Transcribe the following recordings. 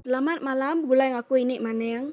Selamat malam begulai ngaku ini maning.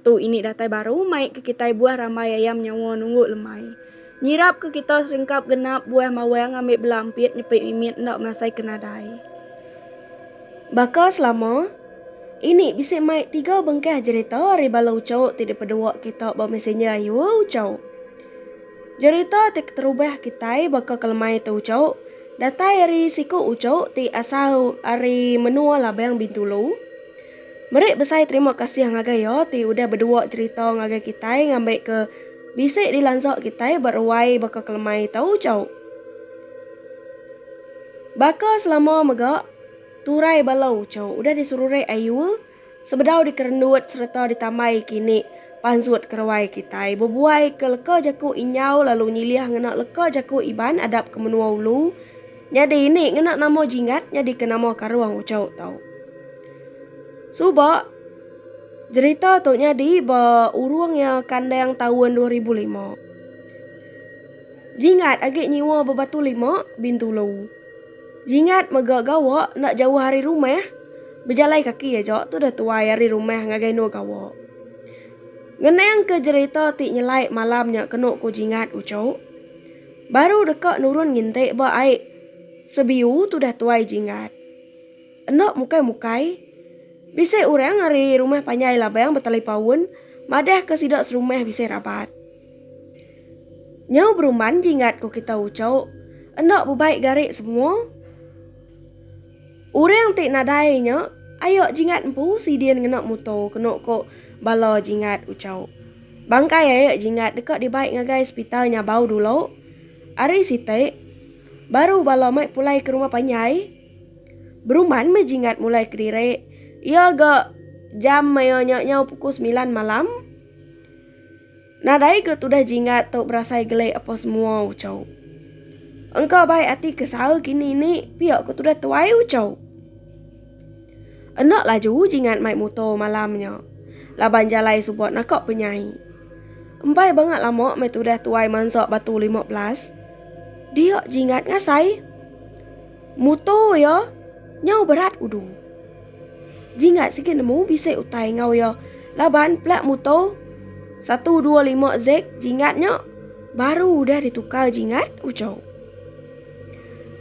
Tu ini datai baru mai ke kitai buah rambai ayam nyawa nunggu lemai. Nyirap ke kita serengkap genap buah mawang ambi bela ampit nyepi mimit enda masai ke nadai. Baka selama Ini bisi mai tiga bengkah jerita ari bala uchauk ti dipedua kita ba messenger ayu e uchauk. Jerita ti keterubah kitai baka ke lemai tu uchauk datai ari siku uchauk ti asal ari menua Labang Bintulu. Meri besai terima kasih ngagai iya ti udah bedua cherita ngagai kitai ngambi ke bisi dilansa kitai ba ruai baka kelemai tau ujau. Baka selama mega, turai bala ujau udah diserurek ayu sebedau dikerendut sereta ditambai kini pansut ke ruai kitai bebuai ke leka jaku Inyau lalu nyilih ngena leka jaku Iban adap ke menua ulu nyadi ini ngena nama Jingat nyadika nama Karong Ujau tau. Suba, jerita tu nyadi ba urung iya kandang taun dua ribu lima. Jingat agi nyiwa bebatu lima, Bintulu. Jingat mega gawa enda jauh ari rumah, bejalai kaki aja tudah tuai ari rumah ngagai endur gawa. Ngenangka jerita ti nyelai malam nya kenu ku Jingat uchu. Baru deka nurun nginti ba ai sebiu tudah tuai Jingat. Enda mukai-mukai, bisi orang ari Rumah Panjai Labang betelepaun madahka sida serumah bisi rabat. Nyau berumban jinggat ku kita uchok, enda bebai gari semua. Orang ti nadai nya ayo jinggat empu sidin ngena mutor kenu ku bala jinggat uchok. Bangkai ayo jinggat deka dibai ngagai sepital Nyabau dulu. Ari siti baru bala mai pulai ke Rumah Panjai. Beruman meh Jingat mulai kediri iya ga jam maya nya nyau pukul semilan malam. Nadai ga tudah Jingat tu berasai geli apo semua ucau. Engka bai ati ke saha kini ni pia ke tudah tuai ucau. Enda laju Jingat mai muto malam nya laban jalai suba naka penyai. Empai banga lama meh tudah tuai mansa batu lima belas. Dia Jingat ngasai. Muto iya nyau berat udu. Jingat sigi nemu bisi utai enggau iya laban plat muto satu dua lima zek jingat nya baru udah ditukar jingat ujo.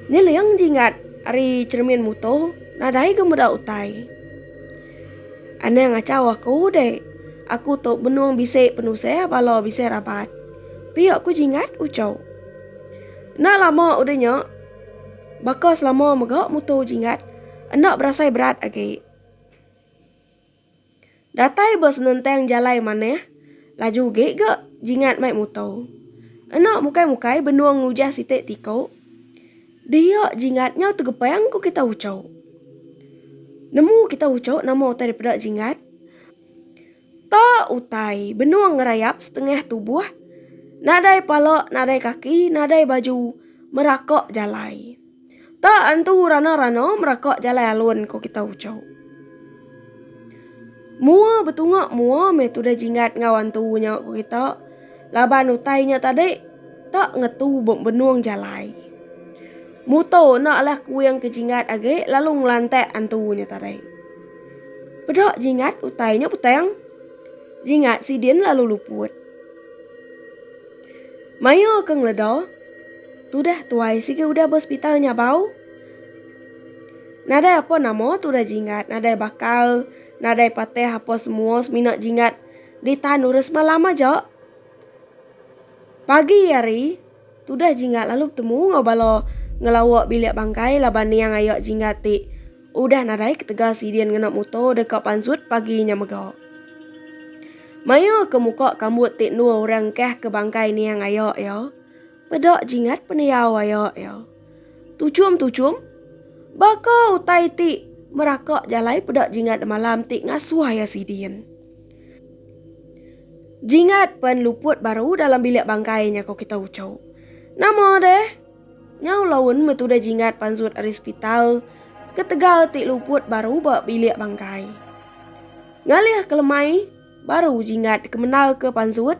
Nyeling jingat ari cheremin muto nadai ga meda utai. Anang achau aku dek, aku tu benung bisi penusah bala bisi rabat. Pia ku jingat ujo. Enda lama udah nya. Baka selama mega mutu jinggat enda berasai berat agi. Datai ba senentang jalai manah laju agi ga jinggat mai mutu. Enda mukai-mukai benung ngujah siti tiku. Dia jinggat nyau tegepang ku kita uchu. Nemu kita uchu nama utai daripada jinggat. Ta utai benung ngerayap setengah tubuh, nadai pala nadai kaki nadai baju meraka jalai. Ta antu rana-rana meraka jalai alun ko kita ucau. Mua betunga mua meh tudah jinggat enggau antu nya ko kita laban utai nya tadi ta ngetu benung jalai. Muto enda alah kuing ke jinggat agi lalu ngelantak antu nya tadi. Peda jingat utai nya butang. Jingat sidin lalu luput. Maya ke ngeleda, tudah tuai sigi udah ba sepital nyabau. Nadai apa nama tudah jingat, nadai bakal, nadai patih apa semua semina jingat ditan urang semalam aja. Pagi hari. Tudah Jinggat lalu betemu enggau bala ngelawa bilik bangkai laban niang aya Jinggat ti udah nadai ketegal sidin ngena muto deka pansut pagi nya mega. Maya ke muka kambut ti endur orang engkah ke bangkai niang aya iya, meda Jinggat pendiau aya iya. Tuchum Tuchum, baka utai ti meraka jalai peda Jinggat demalam ti ngasuh iya sidin. Jingat pen luput baru dalam bilik bangkai nya ko kita ucau. Nama deh? Nyau laun metu deh jingat pansut ari sepital ketegal ti luput baru ba bilik bangkai. Ngalih kelemai baru jingat dikemenal ke pansut.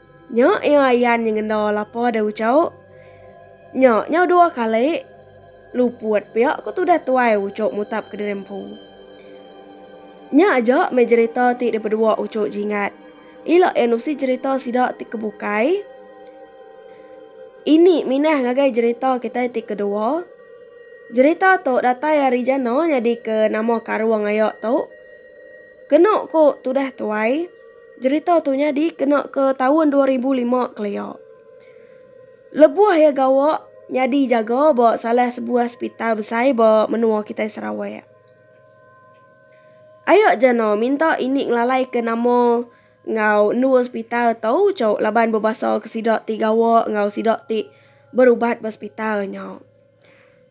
Nya iya ayan nya ngenda lapa deh Ucho. Nya nyau dua kali luput pia ku tudah tuai Ucho mutap ke diri empu. Nya aja meh jerita ti dipedua Ucho Jingat. Ila iya nusi jerita sida ti ke bukai. Ini minah ngagai jerita kitai ti kedua. Jerita tu datai ari jana nyadika nama karung aya tu. Kenu ku tudah tuai. Jerita tu nyadi kena ke taun dua ribu lima kelia. Lebuh iya gawa nyadi jaga ba salah sebuah sepital besai ba menua kitai Sarawak. Aya ja no minta ini ngelalaika nama enggau endur sepital tu cu laban bebasa ke sida ti gawa enggau sida ti berubat ba sepital nya.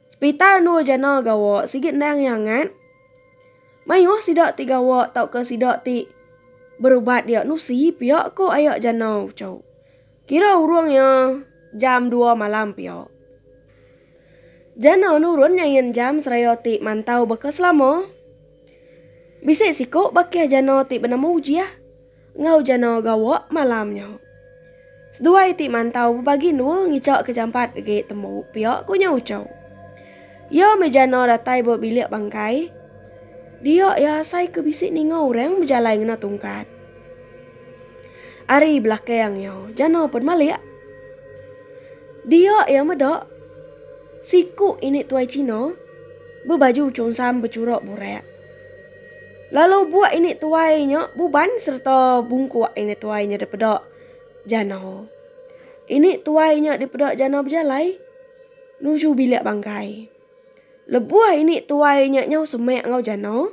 Sepital endur jana gawa sigi endang iya ngat. Mayuh sida ti gawa tauka sida ti berubat dia nusi pia ko aya Janau uco. Kira urung iya jam dua malam pia. Janau nurun nyain jam seraya ti mantau baka selama. Bisi siko bakih Janau ti benama Ujiah. enggau jana gawa malam nya. Seduai ti mantau bebagi endua ngicha ke jampat agi tembu pia ku nya Ucho. Iya meh jana datai ba bilik bangkai. Dia iya asai ke bisi ninga orang bejalai ngena tungkat. Ari belakang iya jana pen malik. Dia iya meda siku ini tuai Cina bebaju chungsam bechura burak. Lalu buak ini tuai nya buban sereta bungkuk ini tuai nya dipeda jana. Ini tuai nya dipeda jana bejalai nuju bilik bangkai. Lebuh ini tuai nya nyau semak enggau jana,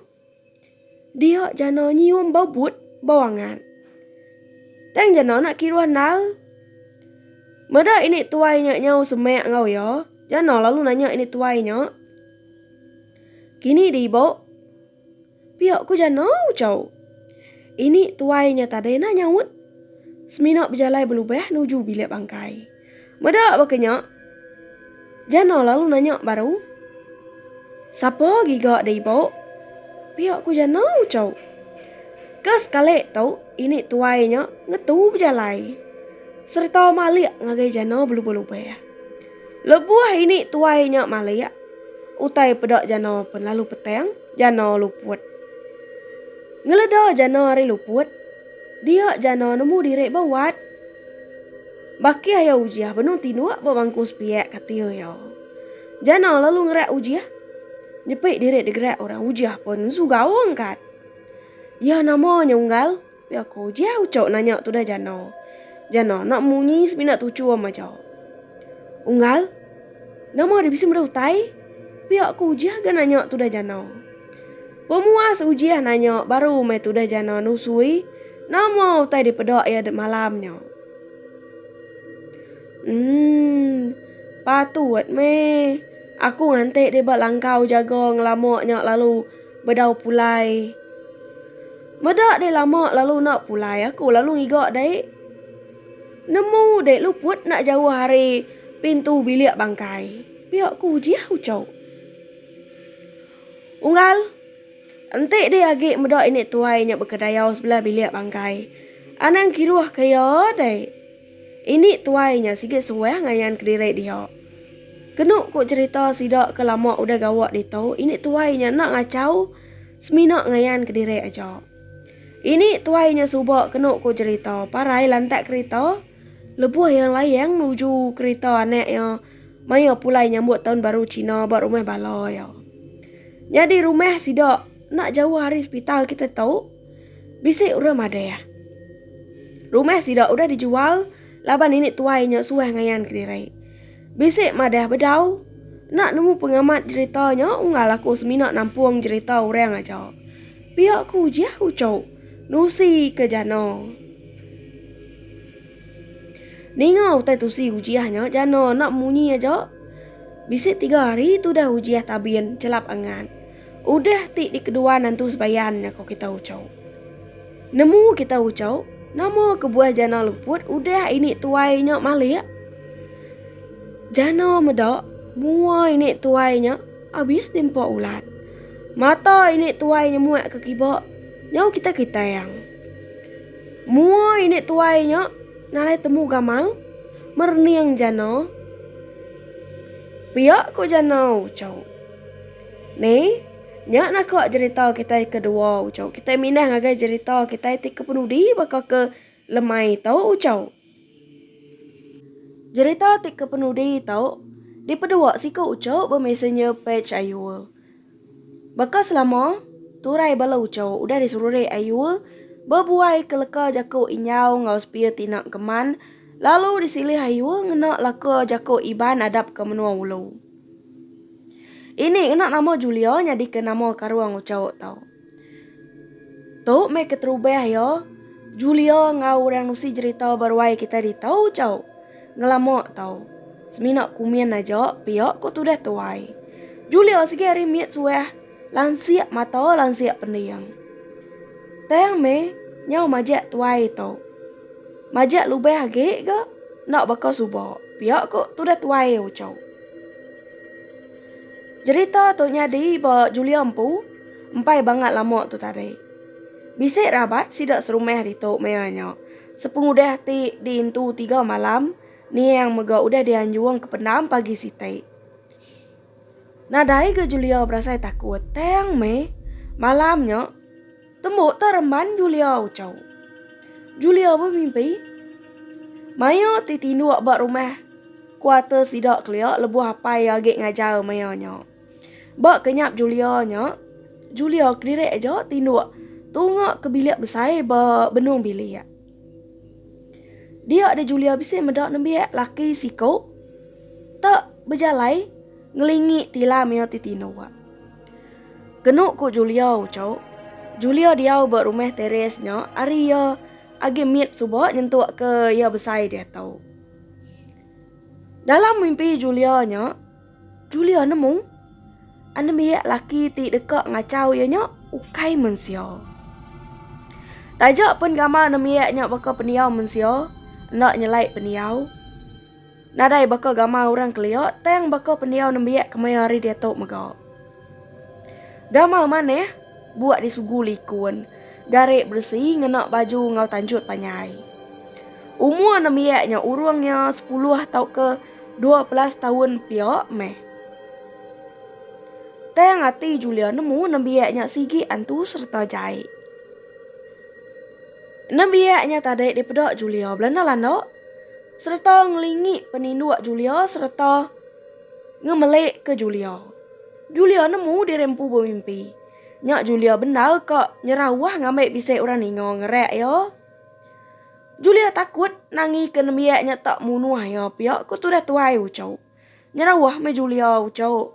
dia jana nyium bau but, bau angat. Tang jana enda kiruh endar. Meda ini tuai nya nyau semak enggau iya, jana lalu nanya ini tuai nya. Kini di ibo. Pio ku jano ucau. Ini tuai nya tadai nah nyaut. Semina bejalai belubah nuju bilik bangkai. Meda baka nya. Jano lalu nanya baru. Sapa giga di ibo. Pio ku jano ucau. Ke sekali tu ini tuai nya ngetu bejalai. Serta malik ngagai jano belubah-lubah. Lebuh ini tuai nya malik, utai peda jana pen lalu petang jana luput. Ngeleda jana ari luput, dia jana nemu diri ba wat. Bakih iya Ujih benung tinduk ba bangku sepiak kati iya. Jana lalu ngerak Ujih. Nyepi diri digerak orang Ujih pen ensu gaung kat. Iya nama nya Unggal. Pia aku, Jia ucok nanya tudah jana. Jana, enda munyi semina tuchu am aja. Unggal, Nama ari bisi meda utai? Pia aku, Jia ga nanya tudah jana. Pemuas Ujia nanya baru meh tudah jana nusui nama utai dipeda iya dek malam nya. Emm, patut meh aku ngantik deh ba langkau jaga ngelama nya lalu bedau pulai. Meda deh lama lalu enda pulai aku lalu ngiga deh nemu deh luput enda jauh ari pintu bilik bangkai. Pia ku Ujiah ucau. Unggal enti deh agi meda ini tuai nya bekedayau sebelah bilik bangkai. Anang kiruh ke iya deh. Ini tuai nya sigi suah ngayan kediri dia. Kenu ku cherita sida ke lama udah gawa ditu, ini tuai nya enda ngachau semina ngayan kediri aja. Ini tuai nya suba kenu ku cherita parai lantak kerita lebuh iya layang nuju kerita anak iya maya pulai nyambut taun baru China ba rumah bala iya. Nyadi rumah sida enda jauh ari sepital kita tu. Bisi orang madah, rumah sida udah dijual laban nenek tuai nya suah ngayan kediri. Bisi madah bedau enda nemu pengamat jerita nya unggal aku semina nampung jerita orang aja. Pia ku Ujah uchu nusi ke jana. Ninga utai tusi Ujah nya jana enda munyi aja. Bisi tiga hari tudah Ujah tabin chelap angat. Udah ti dikedua nentu sebayan nya ko kita ucau. Nemu kita ucau, nama kebuah jana luput udah ini tuai nya malik? Jana meda mua ini tuai nya abis diempa ulat. Mata ini tuai nya muak ke kiba, nyau kita kitang. Mua ini tuai nya nalai temu gamal, merening jana pia ko jana ucau. Ni, nya nah ko jerita kitai ke dua uco. Kitai mindah ngagai jerita kitai ti ke penudi baka ke lemai tu uco. Jerita ti ke penudi tu dipedua siku uco ba messenger page Ayul. Baka selama, turai bala uco udah diserurik Ayul bebuai ke leka jaku Inyau enggau Sepia Tina Keman lalu disilih Ayul ngena laka jaku Iban adap ke menua ulu. Ini ngena nama Julia nyadika nama Karung Uchauk tu. Tu meh keterubah iya, Julia enggau orang nusi jerita ba ruai kitai ditu Uchauk. Ngelama tu, semina kumin aja pia ko tudah tuai. Julia sigi ari mit suah Lansik mata lansik pending. Tang meh nyau majak tuai tu. Majak lubang agi ga enda baka suba pia ku tudah tuai uchu. Jerita tu nyadi ba Julia empu empai bangat lama tu tadi. Bisi rabat sida serumah ditu maya nya. Sepengudah ti diintu tiga malam, Niang mega udah dianjung ke pendam pagi siti. Nadai ga Julia berasai takut tang meh malam nya tembu tu reman Julia ucau. Julia bemimpi maya ti tinduk ba rumah kuarter sida kelia lebuh apai iya agi ngajar maya nya. Ba kenyap Julia nya, Julia kediri aja tinduk tunga ke bilik besai ba benung bilik. Dia deh Julia bisi meda nembiak laki siku te bejalai ngelingi tilam iya ti tino ba. Kenu ku Julia uco, Julia diau ba rumah Therese nya ari iya agi mit suba nyentuk ke iya besai diatu. Dalam mimpi Julia nya, Julia nemu, anembiak laki ti deka ngachau iya nya ukai mensia. Taja pun gamal anembiak nya baka pendiau mensia, enda nyelai pendiau. Nadai baka gamal orang kelia, tang baka pendiau nembiak kemaya hari diatu mega. Gamal manah, buak disugu likun, garik beresi ngena baju enggau tanjut panjai. Umur anembiak nya urung iya sepuluh tauka Dua belas taun pia meh. Tang ati Julia nemu nembiak nya sigi antu sereta jai. Nembiak nya tadi dipeda Julia belanda-landa sereta ngelingi peninduk Julia sereta ngemelik ke Julia. Julia nemu diri empu bemimpi. Nya Julia bendar ka nyerah uah ngambi bisi orang ninga ngerak iya. Julia takut nangika nembiak nya tak munuh iya pia ku tudah tuai Ucok. Nyerauh meh Julia Ucok.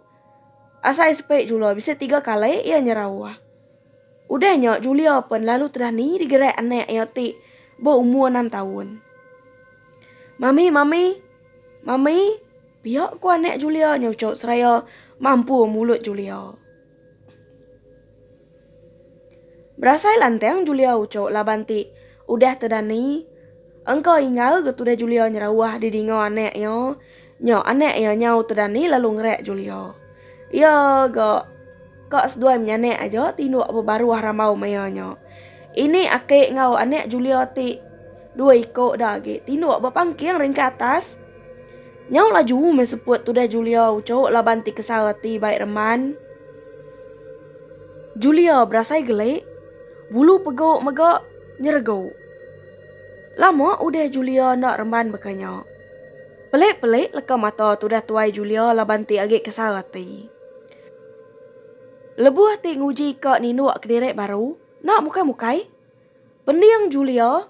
Asai sepe jula bisi tiga kali iya nyerauh. Udah nya Julia pen lalu tudah ni digerak anak iya ti beumur enam taun. Mami, mami, mami, pia ku anak Julia nya Ucok seraya mampur mulut Julia. Berasai lantang Julia ucuk laban ti udah tedani. Engka ingau ga tudah Julia nyerawah di dinga anak iya. Nya anak iya nyau tedani lalu ngerak Julia. Iya ga ka seduai menyanak aja tinduk bebaruh rambau maya nya. Ini aki enggau anak Julia ti. Dua iko udah agi tinduk ba pangking ringkai atas. Nyau laju meh seput tudah Julia ucuk laban ti kesara ti bai reman. Julia berasai gelik, bulu pegu mega nyeregu. Lama udah Julia enda reman baka nya. Pelik-pelik leka mata tudah tuai Julia laban ti agi kesara ti. Lebuh ti nguji ka ninduk kediri baru, enda mukai-mukai. Pending Julia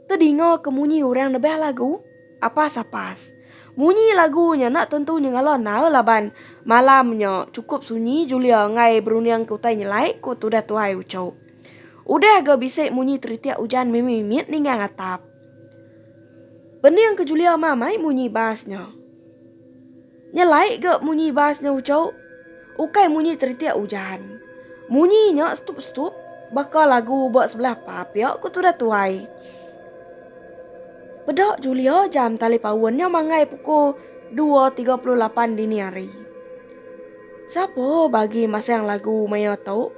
tedingaka munyi orang nebah lagu apas-apas. Munyi lagu nya enda tentu nyengala endar laban malam nya chukup sunyi Julia enggai berunding ke utai nyelai, ku tudah Tuhai Ucho. Udah ga bisi munyi teritik ujan mimit-mimit ninggang atap. Pending ke Julia mamai munyi bas nya. Nya lai ga munyi bas nya ujau, ukai munyi teritik ujan. Munyi nya setup-setup baka lagu ba sebelah pub pia ku tudah tuai. Peda Julia jam tali paun nya manggai pukul 2.38 dini hari. Sapa bagi masang lagu maya tu?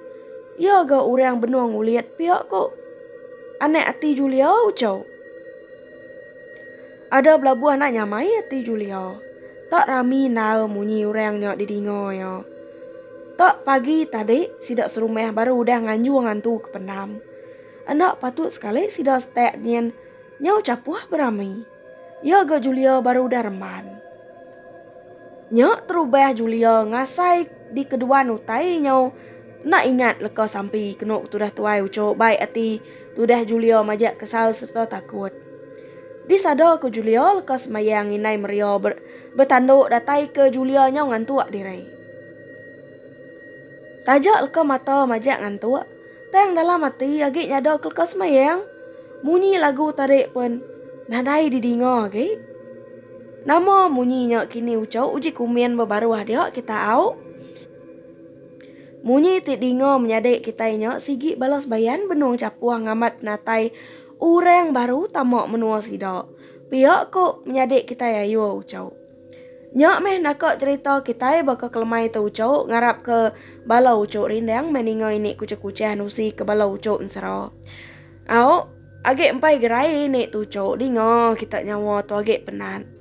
Iya ga urang benung ulit pia ku anak ati Julia ujau. Ada belabuh anak nyamai ati Julia. Tak rami nal munyi orang nya didinga iya. Tak pagi tadi sida serumah baru udah nganjung ngantu ke pendam. Enda patut sekali sida setak nyin nyau chapuh berami. Iya ga Julia baru udah remban. Nya terubah Julia ngasai dikeduan utai nyau enda ingat leka sampi kenu tudah tuai uchu baik ati. Tudah Julio majak kesal sereta takut. Di sada ku Julio leka semayang inai Maria ber, betanduk datai ke Julia nyau ngantuk diri. Taja leka mata majak ngantuk, tang dalam ati agi nyada ke leka semayang. Munyi lagu tadi pun nadai didinga agi. Nama munyi nya kini ucau uji kumin bebaruh dia kita au. Munyi ti dinga menyadi kitai nya sigi bala sebayan benung chapuh ngamat penatai orang baru tama menua sida. Pia ko menyadi kitai ayo uchau. Nya meh naka cherita kitai baka kelemai tu uchau ngarap ke bala uchau rindang meh ninga ini kuchah-kuchah nusi ke bala uchau ensera. Au, agi empai gerai ini tu uchau dinga kita nyawa tu agi penat.